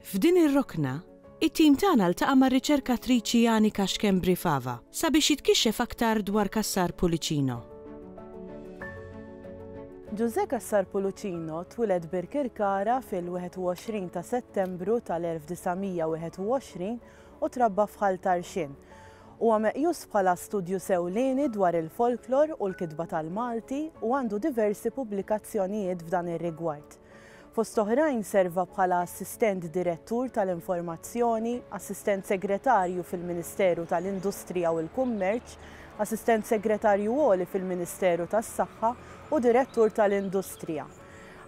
F'din ir-rokna, it-tim tagħna ltaqa' mar-riċerkatriċi Janika Schembri Fava sabiex jitkixxef aktar dwar Cassar Pullicino. Ġużè Cassar Pullicino twiled Birkirkara fil-21 ta' Settembru tal-1921 u trabba f'Ħal Tarxien. Huwa meqjus bħala studjus ewlieni dwar il-folklor u l-kitba tal-Malti u għandu diversi pubblikazzjonijiet f'dan ir-rigward. Fost oħrajn serva bħala Assistent Direttur tal-Informazzjoni, Assistent Segretarju fil-Ministeru tal-Industrija u l-Kummerċ, Assistent Segretarju Għoli fil-Ministeru tas-Saħħa u Direttur tal-Industrija.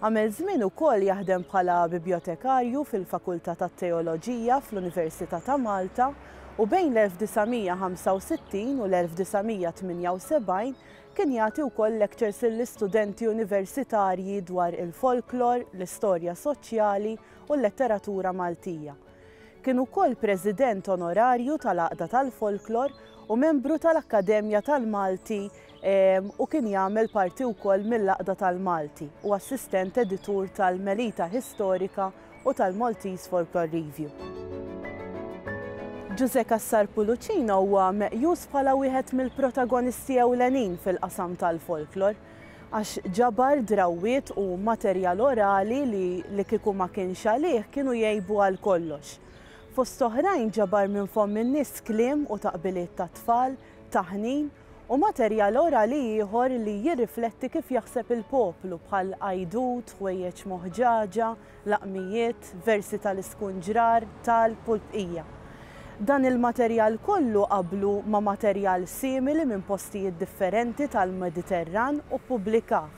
Għamel żmien ukoll jaħdem bħala Bibjotekarju fil-Fakultà tat-Teoloġija fl-Università ta' Malta u bejn l-1965 u l-1978 Kien jagħti wkoll lectures lill-istudenti universitarji dwar il-folklor, l-istorja soċjali u l-letteratura Maltija. Kien ukoll President Onorarju tal-Għaqda tal-Folklor u membru tal-Akkademja tal-Malti u kien jagħmel parti wkoll mill-Għaqda tal-Malti u assistent editur tal-Melita Historica u tal-Maltese Folklore Review. Ġużè Cassar Pulucino huwa meqjus bħala wieħed mill-protagonisti ewlenin fil-qasam tal-folklor, għax ġabar drawwiet u materjal orali li li kieku ma kienx għalih kienu jgħibu għal kollox. Fost oħrajn ġabar minn fomm in-nies kliem u taqbiliet tat-tfal, taħnin, u materjal orali ieħor li jirrifletti kif jaħseb il-poplu bħal għajdut, ħwejjeġ moħġaġa, laqmijiet, versi tal-iskunġrar, talb u l-bqija. Dan il-materjal kollu qabblu ma' materjal simili minn postijiet differenti tal-Mediterran u ppubblikah.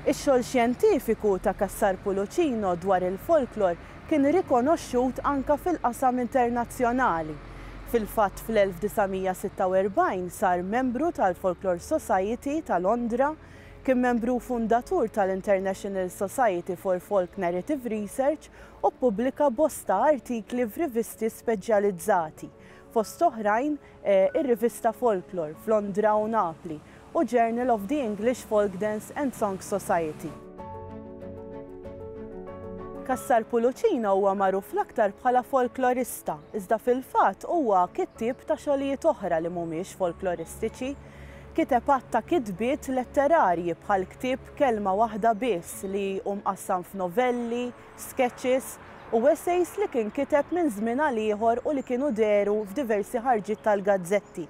Ix-xogħol xjentifiku ta' Cassar Pulucino dwar il-folklor kien rikonoxxut anke fil-qasam internazzjonali. Fil-fatt fl-1946 sar membru tal-Folklore Society ta' Londra, kien membru fundatur tal-International Society for Folk Narrative Research u ppubblika bosta artikli f'rivisti speċjalizzati, fost oħrajn, ir-rivista Folklore f'Londra u Napli, u Journal of the English Folk Dance and Song Society. Cassar Pulucina huwa magħruf l-aktar bħala folklorista, iżda fil-fatt huwa kittieb ta' xogħlijiet oħra li mhumiex folkloristiċi. Kiteb għadd ta' kitbiet letterarji bħall-ktieb Kelma Waħda Biss li hu mqassam f'novelli, skeċċis u esejs li kien kiteb minn żmien għal ieħor u li kienu dehru f'diversi ħarġiet tal-gazzetti.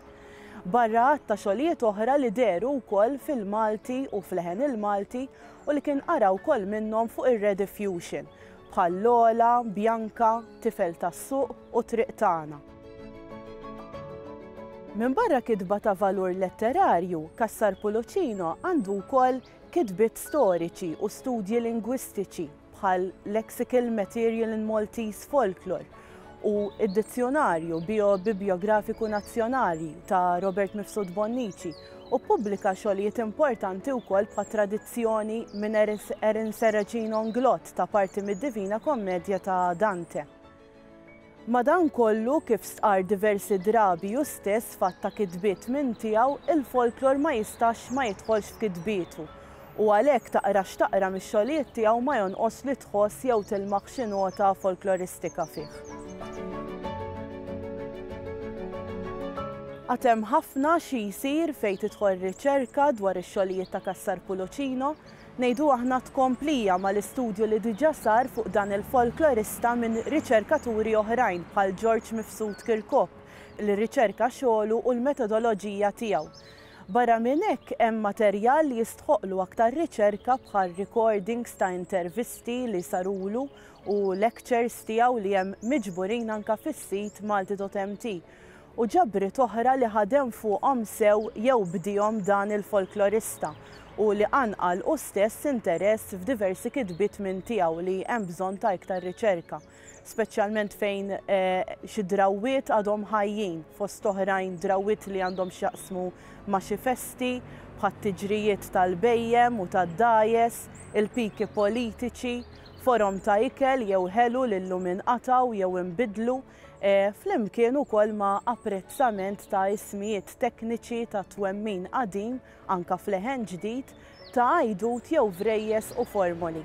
Barra għadd ta' xogħlijiet oħra li dehru wkoll fil-Malti u f'Leħen il-Malti u li kien qara wkoll minnhom fuq ir-Rediffusion, bħal Lola, Bjanka, Tifel tas-Suq u Triq Tagħna. Minbarra kitba ta' valur letterarju, Cassar Pulucino għandu wkoll Kitbiet storiċi u studji lingwistiċi bħal Lexical Material in Maltese Folklore u d-Dizzjunarju Bio-Bibljografiku Nazzjonali ta' Robert Mifsud Bonnici u ppubblika xogħlijiet importanti wkoll bħal tradizzjoni minn Erin Serracino Nglott ta' parti mid-Divina Kommedja ta' Dante. Madankollu, kif stqarr diversi drabi hu stess f'għadd ta' kitbiet minn tiegħu, il-folklor ma jistax ma jidħolx f'kitbietu. U għalhekk taqra x'taqra mix-xogħlijiet tiegħu ma jonqos li tħoss jew tilmaħ xi nota folkloristika fih. Għad hemm ħafna xi jsir fejn tidħol riċerka dwar ix-xogħlijiet ta' Cassar Pulucino, Ngħidu aħna tkomplija mal-istudju li diġà sar fuq dan il-folklorista minn riċerkaturi oħrajn bħal George Mifsud Kirkop li rriċerka xogħlu u l-metodoloġija tiegħu. Barra minn hekk hemm materjal li jistħoqqlu aktar riċerka bħal recordings ta' intervisti li sarulu u lectures tiegħu li hemm miġburin anke fis-sit Malti.mt u ġabriet oħra li ħadem fuqhom sew jew bdiehom dan il-folklorista u li qanqal hu stess interess f'diversi kitbiet minn tiegħu li hemm bżonn ta' iktar riċerka, speċjalment fejn xi drawwiet għadhom ħajjin, fost oħrajn drawwiet li għandhom x'jaqsmu ma' xi festi, bħat-tiġrijiet tal-bhejjem u tad-dgħajjes, il-piki politiċi, forom ta' ikel jew ħelu li llum inqatgħu jew inbidlu, flimkien ukoll ma' apprezzament ta' ismijiet tekniċi ta' twemmin qadim, anke f'leħen ġdid, ta' għajdut jew vrejjes u formoli.